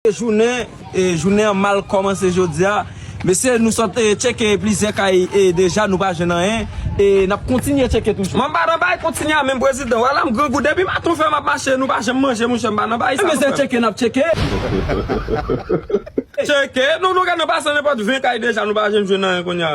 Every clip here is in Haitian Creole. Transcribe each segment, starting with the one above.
Jounen jounen an mal kòmanse jodi a mesye nou sot tcheke plizyè kay deja nou pa jwenn anyen e nap kontinye tcheke toujou. Mwen pa nan bay kontinye a menm prezidan wala m grangou depi maten w fè map mache nou pa janm manje monchè m pa nan bay sa nou fè. Mesye tcheke nap tcheke. Tcheke nou nou gen nan pase nenpòt 20 kay deja nou pa janm jwenn anyen kounya.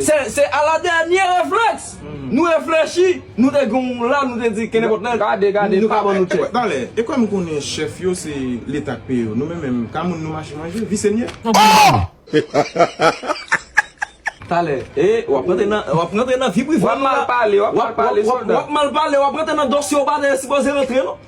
Se a la dènye reflèks nou reflechi nou te gen yon la nou te di kenenpòt lè nou ka ban nou tchèk. Talè, e kòm konnen chèf yo se leta k peye yo nou menm menm ka moun nou mache manje, visye n ye. Ohh! Talè, e wap rantre nan wap rantre nan vi prive nou la. Wap mal pale, wap mal pale sòlda. Wap mal pale, wap rantre nan dosye w pa te sipoze rantre non.